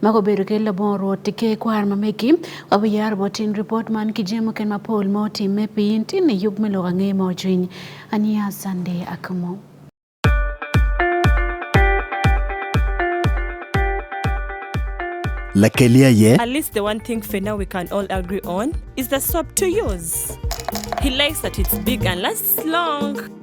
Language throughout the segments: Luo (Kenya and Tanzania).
Maka obedo ki labongo Rwot ki ker kwar ma megi, wabiyaro bot in ripot man ki jami muken mapol ma otimme pi in tinne i yub me lok ange ma ocwiny. Aniya Sunday Akamo. Lakelia ye. At least the one thing for now we can all agree on is the soap to use. He likes that it's big and lasts long.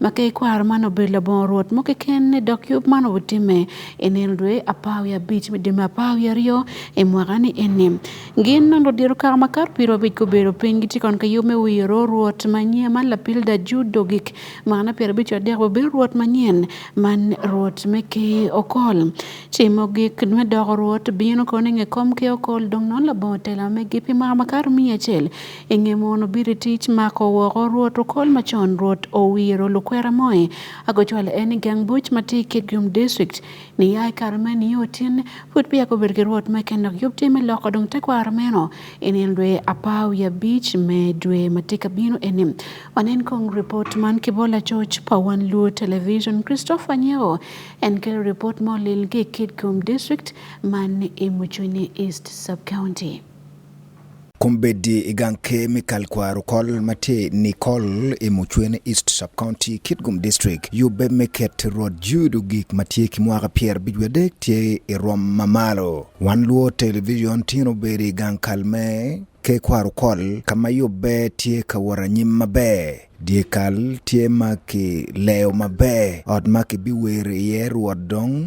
ma ka ikwaro man obedo labongo Rwot mo keken ni dok yub man obitimme i nino dwe apar wiye abic me dwe me apar wiye aryo i mwaka ni eni. Gin nongo odiro kaka ma kato piro abic gubedo piny gitye kon ka yub me wiro Rwot manyen man lapilda ju dogik mwaka na pyer abic adek bobir Rwot manyen man Rwot me ki okol. Ci mogik me doko Rwot bino kono inge kom ki okol dong non labongo tela megi pi mwaka ma kato miya acel I nge mono biri tic mako woko rwot okol macon rwot owiro lukwera moe ago cwale en i gang buc ma tye i Kitgum District ni ya i kare me nio otyenne pud peya gubedo ki rwot me ken dok yub tye me loko dong tekwaro meno i nino dwe apar wiye abic me dwe ma tye ka bino eni. Wanen kong ripot man ki bo lacoc pa Wan Luo Television Christopher Anyeko en kelo ripot ma olil ki i Kitgum District man i Mucuni East Sub County. Kumbedi iganke mikal kwa rukol mate Nicole imuchwen East Sub County Kitgum District yube meket rod judo gik matie kimwaka pier bijwe dek tie irom mamalo wan luo television tino beri gankal me ke kwa rukol kama yube tie kawara nyim mabe diekal tie maki leo mabe od maki biwer iye ruod dong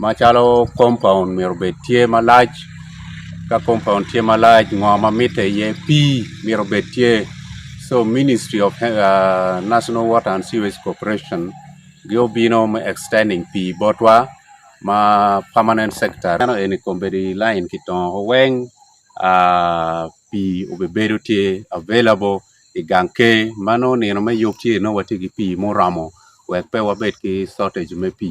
machalo compound mero bed tie malach ka compound tie malach ng'o mamit e iye pi mero bed tie so ministry of uh, national water and sewage corporation gi obino ma extending pi botwa ma permanent sector ano eni kombedi line kitongo weng uh, pi obebedo tye available i gang ke mano nino me yub tye no watye ki pi muromo wek pe wabed ki shortage me pi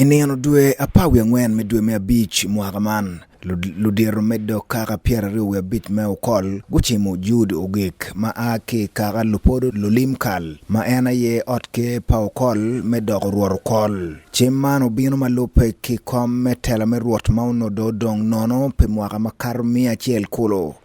I nino dwe apar wiye angwen me dwe me abic mwaka man, ludito me dok kaka pyeraryo wiye abic me okol gucimo Jude Ogik ma a ki kaka lupodo lulim kal ma en aye ot ker pa okol me dok orwot okol. Cim man obino ma lupe ki kom me tela me rwot ma onodo odong nono pe mwaka ma kato miya acel kulu.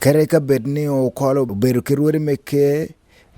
Kere ka bed ni okolo obedo ki rwodi me ker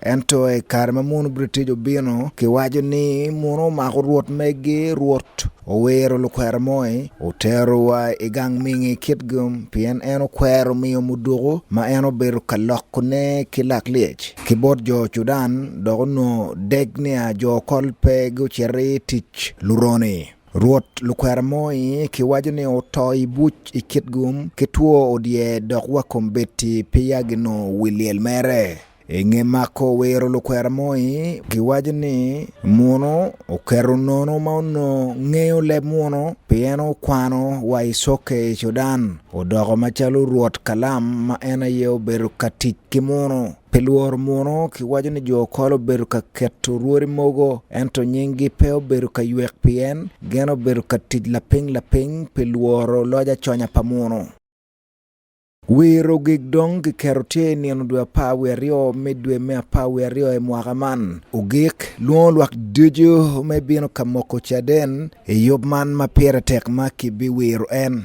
ento i kare ma munu British obino kiwaco ni munu omako rwot megi rwot owero lukwero moi oterowa i gang mingi kit gum pien en okwero miyo muduku ma en obedo ka lokone ki lak lyec ki bot jo Sudan dok onongo dek niya jo kol pe guciti tic luroni. Rwot lukwero moi ki waco ni oto i buc i kit gum ki two odye dok wa kom beti pi ya gino wi lyel mere. I nge mako wiro lukwero moi ki waco ni muno oketo nono ma ono ngeyo leb muno pi en okwano wa i soke i Cudan odoko macalo rwot kalam ma en aye obedo ka tic ki muno. Pi lworo muno kiwaco ni jo okol obedo ka keto rwodi mogo ento nyinggi pe obedo ka ywek pien gin obedo ka tic lapiny lapiny pi lworo loc aconya pa muno. Wi rogig dong kiketo tye i nino dwe apar wiye aryo me dwe me apar wiye aryo i mwaka man. Ogik, lwongo lwak ducu me bino ka moko caden i yub man ma pire tek ma kibiwiro en.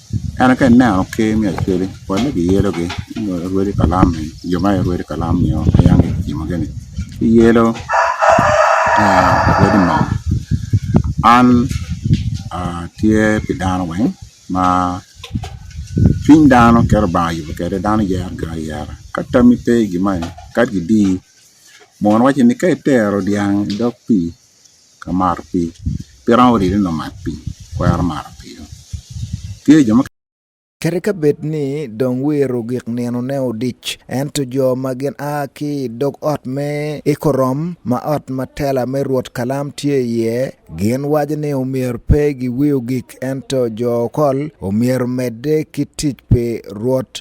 En ka ineno ker me Australia pole giyellogi rwede kalam ni jo ma aye rwede kalam nio ayange kicimo gini ki yelo rwede mo an tye pi dano weng ma cwiny dano kero banga yubo kede dano yero gi ayera ka tami pe gimani kadi gidi mono wacci ni ka itero dyang idog pii ka mar pi pira odi ni no mat pi kwero mar pi tye jo ma Kata ka bed ni dong wiro gik nino ne odic, ento jo ma gin a ki dog ot me Ikorom ma ot ma tela me Rwot Kalam tye iye, gin waco ni omyero pe giwiyo gik ento jo okol omyero medde ki tic pi Rwot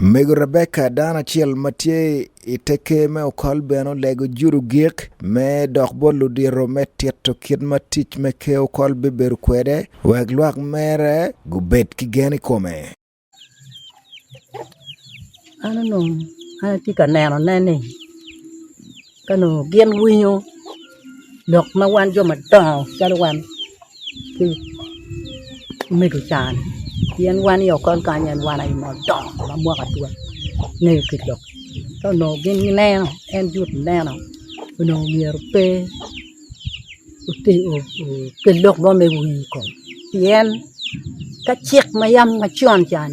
Mego Rebecca dano acel ma tye i teke me okol bene olego juru gik me dok bot ludiro me tito kit ma tic me ke okol bibedo kwede wek lwak mere gubed ki gen i kome. An onongo an atye ka nenone ni Ka nongo gin winyo lok ma wan jo madongo calo wan ki medo can pien wan i okol kany en wan aye ma odongo ma mwaka atua ngeyo kit lok ka onongo gin gineno en jut neno onongo myero pe ote o- o- kel lok mo me wii kom pien ka cik ma yam macon can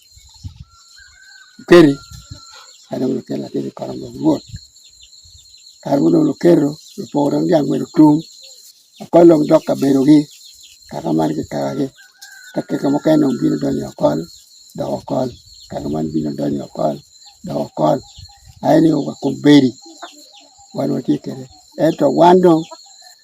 okeri kata mondo okel akel e kora mondo wuot kar mondo mondo okero opogore gi dhiang' mondo tung' okolo dok ka bedogi kaka man gi kawagi ka keke moko en onge bino donjo okol dok okol kaka man bino donjo okol dok okol aye ni oga komberi wan watye kede ento wan dong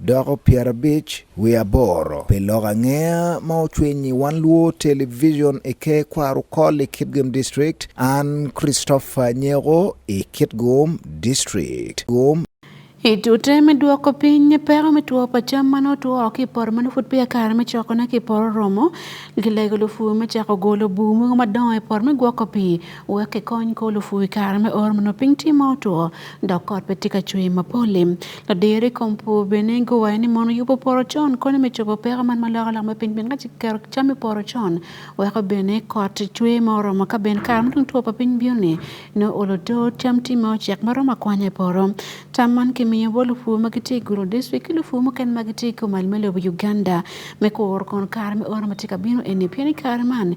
Doko pyerabic wiye aboro pi lok angeya ma ocwiny i Wan Luo Television i Ker Kwarukol i Kitgum District, an Christopher Nyeko i Kitgum District. Gum I tute me dwoko piny peko me two pa cam ma nongo two woko ki i poto ma nongo pud peya kare me cokone ki i poto oromo, gilego lupur me cako golo bur mogo madongo i poto me gwoko pii wek kikony ka olufu wi kare me or mondo piny tye ma otwo dok kot pe tye ka cwe mapol-li ladiro i kom pur bene guwayo ni mono yubo poro con konyo me cobo peko man ma loko lok me piny pien ka ci kiketo cam i poro con weko bene kot cwe ma oromo ka bene kare ma dong two pa piny bino-ni nongo olo to cam tye ma ocek ma romo akwanya i poro tam man kimiyo bot lupu ma gitye i Gulu district ki lupu mukene ma gitye i komal me lobo Uganda me kuro kono kare me oro ma tye ka bino eni pien i kare man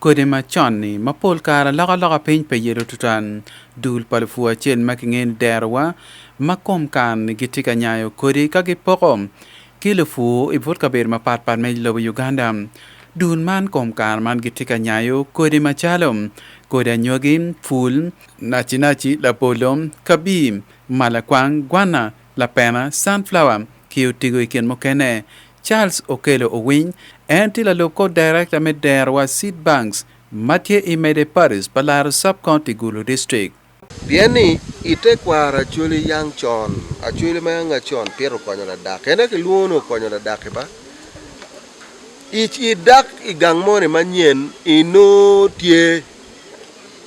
Kodi macon-ni ma pol kare aloko aloka piny pe yelo tuta. Dul pa lupur acel ma kingeyo ni derowa ma kom kar-ni gitye ka nyayo kodi ka gipoko ki lupur i but kabedo mapat pat me lobo Uganda. Dul man kom kare man gitye ka nyayo kodi macalo, kodi anyogi, pul, nacinaci, labolo, kabir, malakwang, gwana, Lapena Sunflower ki otigo i kin mukene. Charles Okello Owiny, en tye lalub kor Director me dero wa Seed Banks ma tye i Mede Parish pa Laro Sub County Gulu District. Pien ni i tekwaro Acholi Young Con, Acholi ma Young Acon pire okonyo ladaki. En aye kilwongo ni okonyo ladaki ba. I, i dak i gang moni manyen, i nongo tye.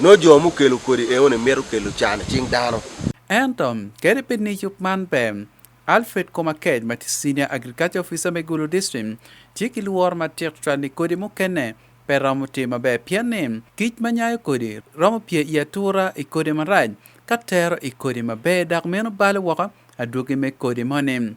Nongo jo mukelo kodi eoni mito kelo can i cing dano. Ento, kadi bed ni yub man ber, Alfred Komakech ma tye Senior Agriculture Officer me Gulu District tye ki lworo matek tutwal ni kodi mukene pe romo tye maber pien ni kic ma nyayo kodi romo pye i atura i kodi marac ka tero i kodi maber dok meno balo woko adwogi me kodi moni.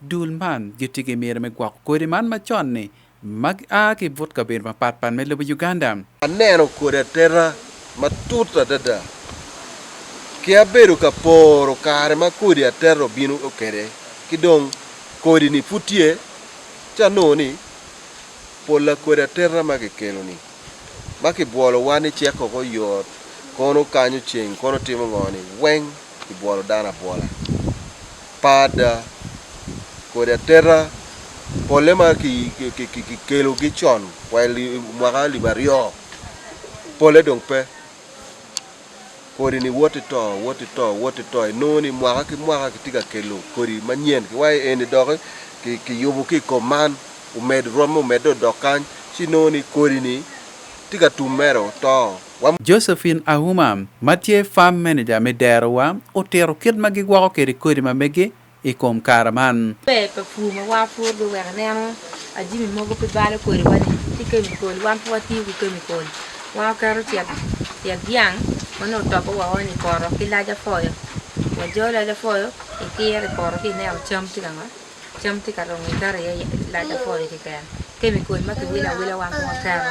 Dul man gitye ki myero me gwoko kodi man macon-ni ma gia ki but kabedo mapatpat me lobo Uganda. Aneno kodi ateta matut adada ki abedo ka poro kare ma kodi ateta obino kwede ki dong kodi-ni pud tye ci anongo ni pola kodi ateta ma kikelo-ni ma kibwolowa ni ceko ko yot kono kanyo ceng kono timo ngo-ni weng kibwolo dano abwola. Pada kod ateta pole ma kikelo ki con wa mwaka alip aryo pole dong pe kodi ni woti to woti to woti to inongo ni mwaka ki mwaka kitye ka kelo kodi manyen ki wa eni doki kiyubo ki kom man omed romme omedde odok kany ci inongo ni kodi ni tye ka tum mere oto. Josephine Auma ma tye Farm Manager me derowa otito kit ma gigwoko kwede kodi ma megi i kom kare man. Ber pa pur ma wapuro giweko ineno jami mogo pe balo kodiwa-ni ki kemikol. Wan pe watiyo ki kemikol. Wan waketo tyet tyet dyang ma nongo otobbe woko-ni i poto ki lac apoyo. Wajolo lac apoyo ikiro i poto ci ineno cam tye ka ma, cam tye ka dongo iketo iye lac apoyo keken. Kemikol ma kiwilo awila wan pe waketo.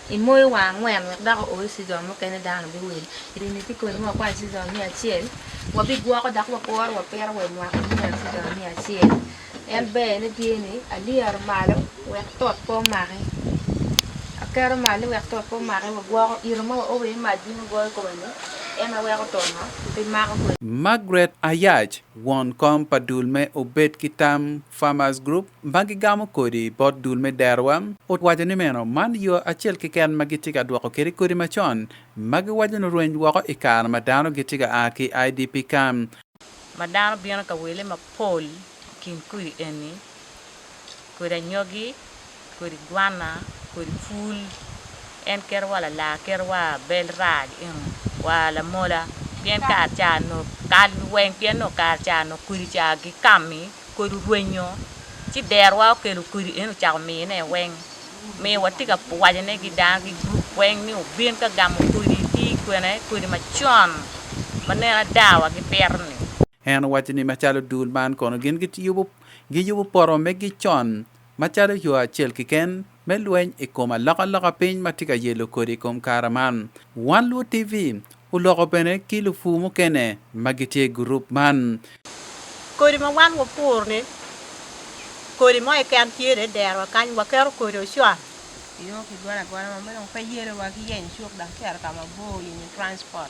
I moyo wa angwen wek dako owe sizon mukene dano biwil. Ini ti kodi mwa kwai sizon miya acel. Wabigwoko dak wakoro wapiro we mwaka miya sizon miya acel. En ber ni tye ni aliyero malo wek tot po maki. Akero malo wek tot po maki wagwoko iro ma owe mac bino goyo kome ni en aweko tono pi mako kodi. Margaret Ayach, won kom pa dul me Obed ki Tam Farmers Group, ma gigamo kodi bot dul me derowa, owaco ni meno man yo acel keken ma gitye ka dwoko kwede kodi macon ma giwaco ni orweny woko i kare ma dano gitye ka a ki idp ka. Ma dano bino ka wele mapol i kin kodi eni, kodi anyogi, kodi gwanna, kodi pul. En keto wa lalar, keto wa bel rac eno, wa lamola pien kare ca nok kal weng pien nongo kare ca nok kodi ca gikami. Kodi orwenyo, ci derwa okelo kodi eno ocako miyone i weng. Miyo watye ka wacone ki dano ki gurup weng ni obin ka gamo kodi ki i kwene, kodi macon ma neno ada wa gipito-ni. En owaco ni macalo dul man kono gin giyubo poto megi con. macalo yo acel keken me lweny i kom alokaloka piny ma tye ka yelo kodi i kom kare man. Wan Luo TV oloko bene ki lupur mukene ma gitye i gurup man. Kodi ma wan wapuro-ni, kodi mo keken tye dong i derowa kany, waketo kodi ocon. Yoo ki golo agola ma meno pe yelowa ki yenyo cuk dok cito ka mabor, yenyo transport.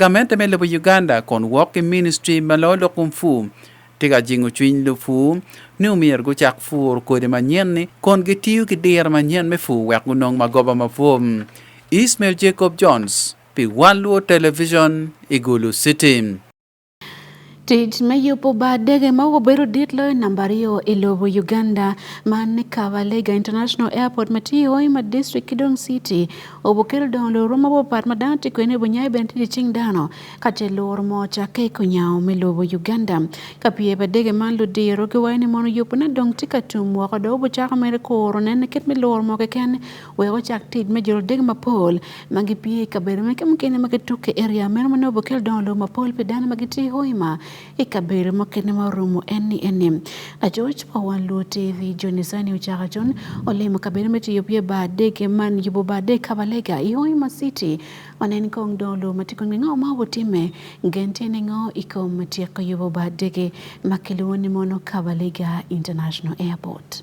Gamen teme lobo Uganda kun wok ki ministry ma lo lok kung fu tye ka jingo cwiny lupu ni omyero gucak pur kodi manyen-ni kun gitiyo ki diro manyen me pur wek gunong magoba mapwom. Ismail Jacob Jones pi One Luo Television i Gulu City. Tic me yubo bar dege ma obedo dit loyo namba aryo i lobo Uganda man ni Kabalega International Airport ma tye i Hoima District ki dong City obukelo dongo loro mabopat ma dano tye kwene bunyayo bene tye cing dano ka ce loro mo cakke i kunyawo me lobo Uganda ka pye pa dege man ludiro giwayo ni mono yubone dong tye ka tum woko dong obucako mere kuro nene kit me loro mo keken we ochak tij me jolo dege mapol ma gipie i kabedo meke mukene ma gituk i eria meno ma nongo bukel dongo lobo mapol pi dano ma gitye i hoima i kabedo mukene ma orumo eni eni lacoc pa wan luo tv joni sani ocako con olimo kabedo me tiyo pye bar dege man yubo bar dege kabalega i hoima city ma nen kong dongo lobo ma tye kong ningo ma obutimme gen tye ningo i kom tyeko yubo bar dege ma kilwongo ni mono kabalega international airport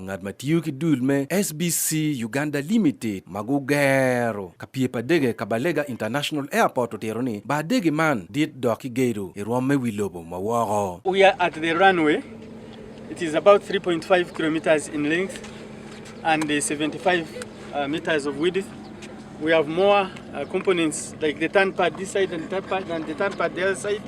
ngat ma tiyo ki dul me SBC Uganda Limited ma gugero ka pye pa dege ka Balega International Airport otero ni bar dege man dit dok ki gedo i rwom me wi lobo ma woko. We are at the runway. It is about 3.5 kilometers in length and 75 uh, meters of width. We have more uh, components like the turn pad this side and the turn pad, and the turn pad the other side.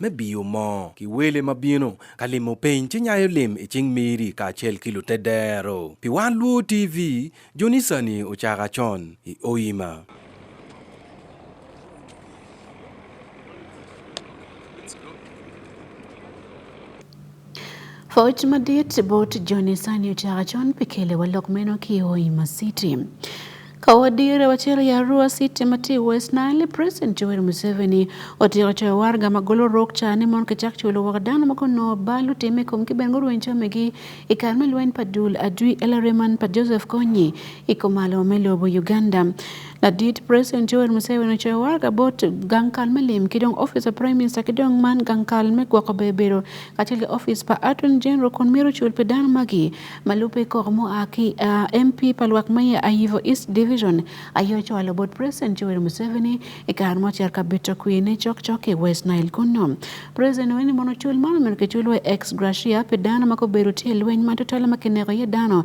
me biyo mo ki wele ma bino ka limo piny ci nyayo lim i cing miri kacel ki lute dero pi wan luo tv jonisani ocaka con i oima Fawuch madit bot Joni sani ochaka chon pikele walok meno kiwo ima city kawadire wachero ya Arua City mati West Nile President Joel Museveni otiro choyo warga magolo rok chane mon kichak chulo waka dano makono balu time kom kibengo ruwen chamegi ikar melwen padul adui elariman pa Joseph Konyi ikomalo melobo Uganda Ladit President Yoweri Museveni ocoyo war ka bot gang kal me lim ki dong office pa Prime Minister ki dong man gang kal me gwoko bebedo kacel ki office pa Attorney General kun mito cul pi dano magi ma lubbe koko mo a ki uh, MP pa lwak ma ye Ayivo East Division aye ocwalo bot President Yoweri Museveni i kare mo cer ka bito kwi ne cok cok ki West Nile kunno. President weni mono cul man omito kicul wa ex gratia pi dano ma gubedo tye lweny ma tutwale ma kineko iye dano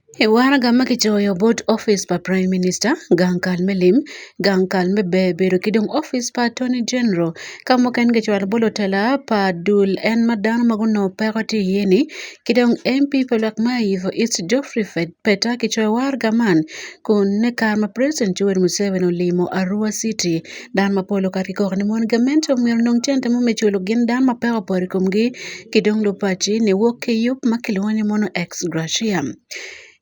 E warga ma kicoyo bot office pa Prime Minister gang kal me lim, gang kal me bedo ki dong office pa Attorney General. Ka mukene kicwalo bot lutela pa dul en ma dano ma gunongo peko tye iye-ni ki dong MP pa lok ma i Yivo East Geoffrey Peta kicoyo warga man kun me kare ma President Yoweri Museveni olimo Arua City dano mapol okato ki koko ni mon gamente omyero onong cente mo me culo gin dano ma peko opoto i komgi. kidong lo pachi ne wuok ke yup makelo wani mono ex gratia.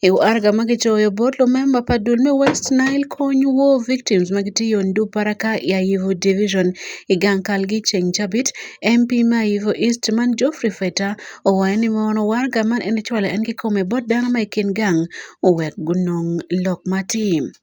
Eu arga magi joyo bot lo memba pa dul me West Nile kony wo victims magi tiyo ndu para ka ya yivo division igang kalgi cheng chabit MP ma yivo East man Geoffrey Feta owaye ni mono warga man en chwala en ki kome bot dano ma ikin gang uwek gunong lok matim.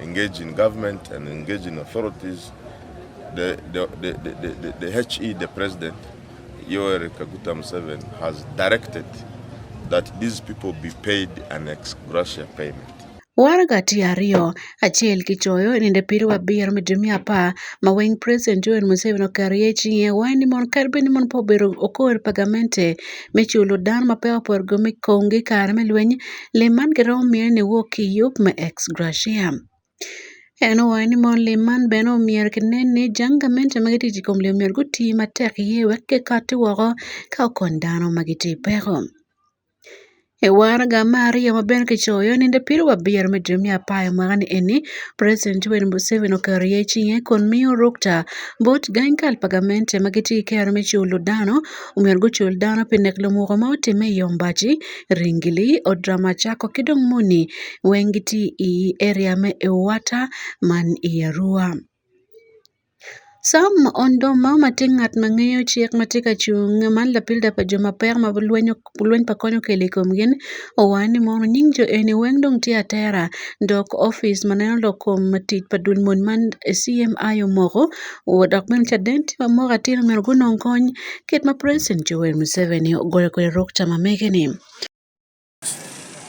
Engage in government and engage in authorities. The, the, the, the, the, the HE, the president, Yoweri Kaguta Museveni, has directed that these people be paid an ex gratia payment. Warga tye aryo, acel ki coyo ninde piri wa biro me dwe miya apar ma weng President Yoweri Museveni oketo iye cinge wai ni mon kadi bed ni mon pe obedo okor pa gamente me culo dano ma pe oporo go me kongi i kare me lweny lim man giromo mine ni wok ki yub me ex gratia en owaco ni mono lim man bene omyero kinen ni jang gamente ma gitye i kom lim myero guti matek iye wek kikatti woko ka okony dano ma gitye i peko i waraga me aryo ma bene kicoyo ni nde piri wa biro me jami apayo mwaka ni eni president yoweri museveni oketo iye cinge kun miyo rukta bot gang kal pa gamente ma gitye ki kero me culo dano omyero gucul dano pi nek lumoka ma otimme i Yombaci, Ringili, Odramacako ki dong moni weng gitye i area me Ewata man i Arua. Sam Ondoma ma tye ngat ma ngeyo cik ma tye ka cung man lapilda pa jo ma peko ma lweny pa kony okelo i kom gin owaco ni mono nying jo eni weng dong tye atera dok opic ma neno lok kom tic pa dul mony man CMI omoko Dok bene ca den tye ma moko atir myero gunong kony kit ma president Yoweri Museveni ogoyo kwede rok ca ma mege-ni.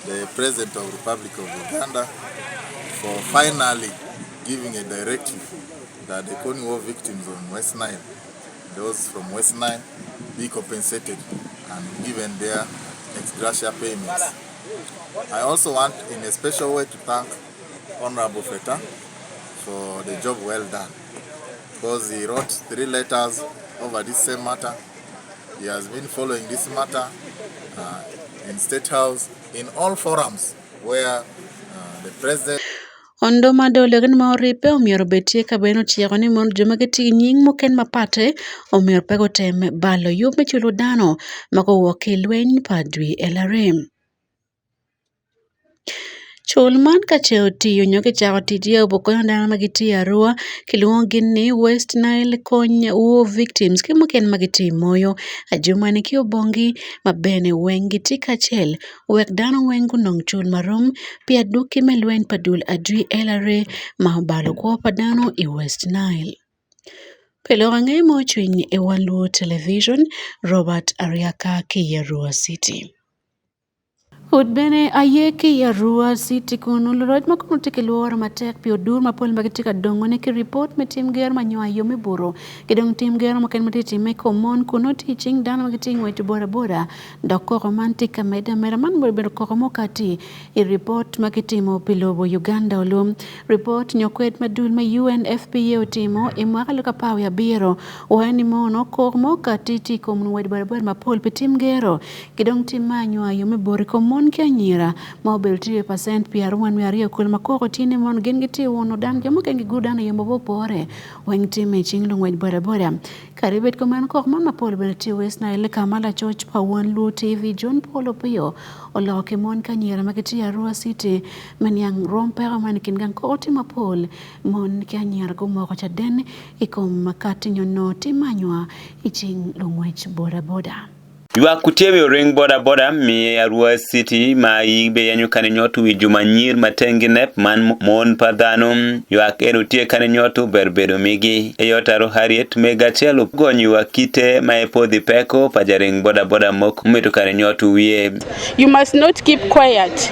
the President of Republic of Uganda for finally giving a directive that the Kony War victims on West Nile, those from West Nile, be compensated and given their ex gratia payments. I also want in a special way to thank Honorable Feta for the job well done because he wrote three letters over this same matter. He has been following this matter uh, in State House, in all forums where uh, the president Ondo ma dole gin ma oripe omiyo obetie ka beno tiego ni mondo joma giti gi nying moken mapate omiyo pego tem balo yo me chulo dano ma kowuok e lweny padri e larem. Cul man ka ce otiyo nyo kicako ticce obuto konyo dano ma gitye i aroo kilwongogi ni West Nile Kony War Victims ki mukene ma gitye i moyo ajumani ki obongi ma bene weng gitye kacel wek dano weng gunong cul ma rom pi adwoki me lweny pa dul adwi LRA ma obalo kwo pa dano i West Nile pi lok angeyo ma ocwiny i wan luo Television Robert Aryaka ki i Arua citi. Ut bene aye ki i Arua citi kun nongo roc ma kono tye ki lworo matek pi odur mapol ma gitye ka dongone ki ripot me tim ger ma nyongo aye me buru ki dong tim ger mukene ma tye timme i kom mon kun nongo tye i cing dano ma gitye ngweco bodaboda dok koko man tye ka medde ameda man bene obedo koko mo kati i ripot ma kitimo pi lobo Uganda olum ripot nyo kwed ma dul me UNFPA otimo i mwaka aluka apar wiye abiro waye ni mono koko mo kati tye i kom ngwec bodaboda mapol pi tim gero Kidong tim ma anywa yo me bor i kom mon ki anyira ma obedo tye pacent pi arungwen me aryo kul ma koko tye ni mon gin gitye uno dang jo mukene gigur dano i yo ma opore weng tim i cing lungwec bodaboda. Kadi bed kumeno kok mon mapol bene tye West Nile ka ma lacoc pa Won Luo TV John Paul Opiyo oloko ki mon ki anyira ma gitye Arua City me niang rwom peko man i kin gang koko tye mapol mon ki anyira gumoko caden i kom makati nyo nongo tim ma anywa i cing lungwec bodaboda. Ywak kutiebi oring boda boda miye arua city ma yibe yanyo kane nyotu wi juma nyir matengi nep man mon pa dhano ywak en utie kane nyotu ber bedo migi eyotaro harriet mega chelo gony ywak kite ma e podhi peko pa jaring boda boda mok mito kane nyotu wiye You must not keep quiet.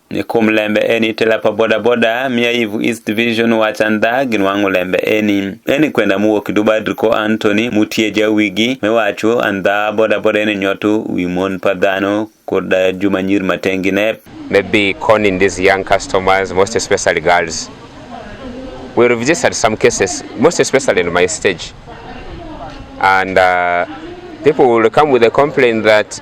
Nikum lembe eni tela pa bodaboda miya Yivu East Division waca nda ginwang'o lembe eni. Eni kwenda muwo kidubadri ko Anthony mutye jawigi me waco andha bodaboda eni nyotu wi mon pa dhano kod eh, Juma Nyir Matengi ne maybe conning these young customers, most especially girls. We registered some cases, most especially in my stage. And uh, people will come with a complaint that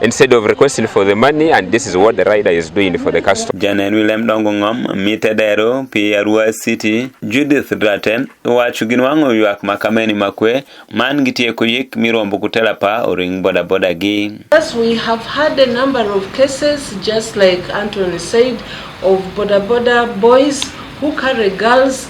instead of requesting for the money and this is what the rider is doing for the customer. Janen William Dongo Ngom, Mite Dero, Pi Arua City, Judith Draten, wacho gin wang'o ywak makameni makwe man gi tieko yik mirombo kutela pa oring boda boda gi. Yes, we have had a number of cases just like Anthony said of boda boda boys who carry girls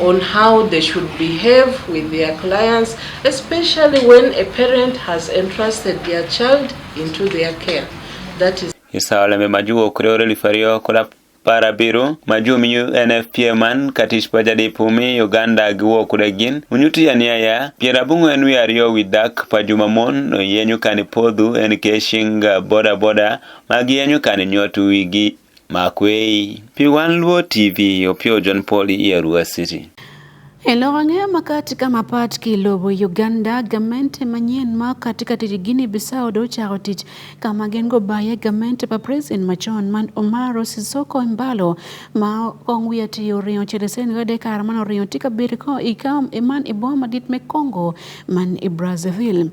on how they should behave with their clients, especially when a parent has entrusted their child into their care. That is Isaoleme majuo kureo relifario kula para biro majum yu NFPA man katish pajadi pumi Uganda giwo kuregin unyuti ya niya ya piera bungu enu ya rio widak pajuma mon no yenyu kani podhu en keshinga boda boda magi yenyu kani nyotu wigi Makwei, P1 Luo TV, Opio John Paul Ierua City. E lowo ang'eyo ma katika mapat ki lobo Uganda gamente manyien ma katika tich Guinea Bissau do chako tich kama gin go baye gamente pa president machon man Omaro Sisoko Embalo ma kong wiye tiyo ringo chere sen gode kar man oringo tika bir ko ikam iman iboma dit me Congo man i Brazzaville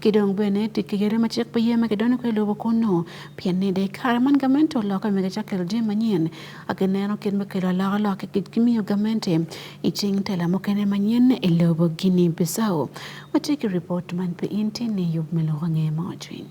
ki dong bene tye ki yadi ma cik pi ye ma kidonyo kwe lobo kunu pien ni dek kare man gamente oloka mege ca kelo jami manyen agi neno kit me kelo aloka lok ki kit gimiyo gamente i cing tela mukene manyen i lobo gini bisao watye ki report man pi in tye ni yub me loko nge mo cwiny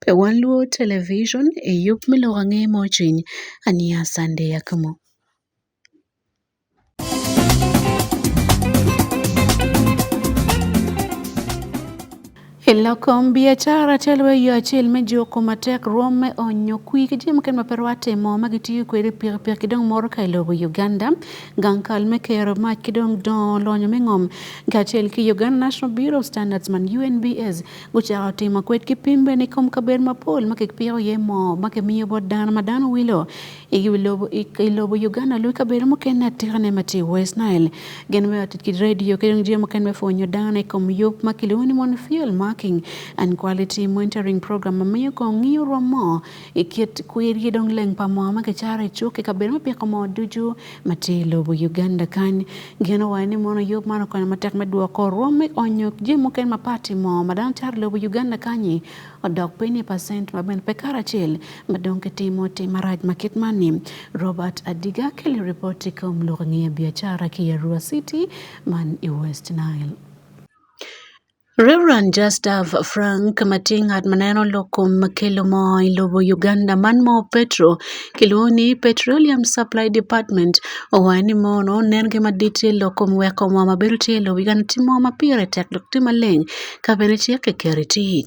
Be wan luwo television e yo miluwo ang'e mojiny anie sande yak mo? Elokom biacara telo e yo acel me joko matek rwom me onyo kwi ki jami mukene ma pe rwatimo ma gitiyo kwede pikipiki ki dong motoka i lobo Uganda gang kal me kero mac ki dong dongo lonyo me ngom kacel ki Uganda National Bureau of Standards man UNBS Gucako timo kwed ki pim bene i kom kabedo mapol ma kipiko iye moo ma kimiyo bot dano ma dano wilo i lobo Uganda lwe kabedo mukene atikane ma tye i West Nile. Gin weko tic ki radio ki dong jami mukene me pwonyo dano i kom yub ma kilwongo ni mono field marking and quality monitoring program ma miyo kong ngiyo rwom moo i kit kwir ki dong leng pa moo ma kicaro i cuk i kabedo me piko moo ducu Matye i lobo Uganda kany, geno wa ni mono yub man okonyo matek me dwoko rwom me onyo jami mukene mapati mo ma dano cato i lobo Uganda kanyi odok piny i pacent ma bene pe karacel ma dong kitimo tim marac ma kit man-ni. Robert Adiga keli ripot i kom lok i nge biacara ki i Arua City man i West Nile. Rev. Justus Frank Matii ng'at ma ne en oloko makelo mo e lobo Uganda man mo Petro kiluongo ni Petroleum Supply Department owacho ni mono ne en gima dit e loko weko mo mabedo tye e lobo Uganda timo mapire tek dok tye maleng kabene ceke keri tic.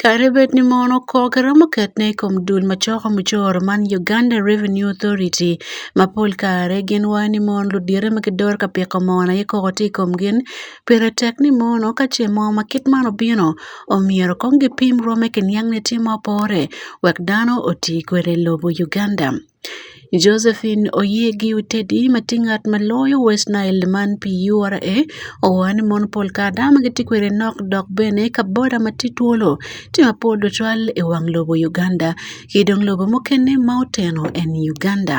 Kare bed ni mon okok romo ketne ekom duol machoko muchoro man Uganda Revenue Authority ma pol kare gin wayo ni mon ludyere ma gidoro ka piko mon aye koko tye ikom gin pire tek ni mono ka ce mo ma kit man obino omyero kong gipim rwome ki niang ni tye ma opore wek dano oti kwede ilobo Uganda. Josephine Oyiegi Utedi matin ngat ma loyo West Nile man pi URA owacho ni mon pol kare dano ma gitye kwede nok dok bene ka boda ma tye twolo tye ma pol tutwal i wang lobo Uganda ki dong lobo mukene ma oteno en Uganda.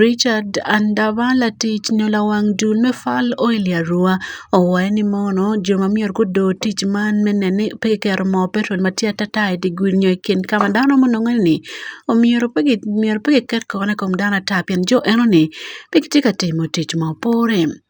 Richard Andavala tich nyola wang dul me fal oil ya rua owae ni mono jo ma myero gudo tic man me nene pe ki keto moo petrol ma tye atata i di gudi nyo i kin ka ma dano ma nonge ni omyero pe ki myero pe ki ket kore i kom dano ata pien jo eno ni pe gitye ka timo tic ma pore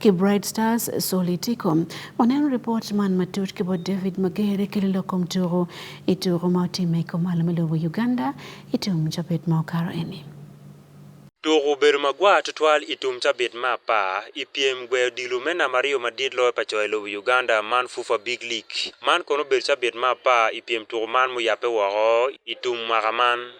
ki Bright Stars Solitico. Waneno ripot man matut ki bot David Magere ki lilo kom tuku i tuku ma otimme i kom malo me lobo Uganda i tum cabit ma okato eni. Tuku obedo magwar tutwal i tum cabit me apar i pyem gweyo odilo me namba aryo madit loyo pa co i lobo Uganda man FUFA Big League. Man kono obedo cabit me apar i pyem tuku man muyabbe woko i tum mwaka man.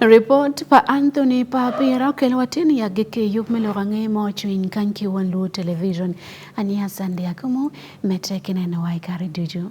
Report pa Anthony pa Pira okel watin ya gike yub me loga nge mo chuin kan ki wan lu television ani hasan dia kumu metre kine na wai kare duju.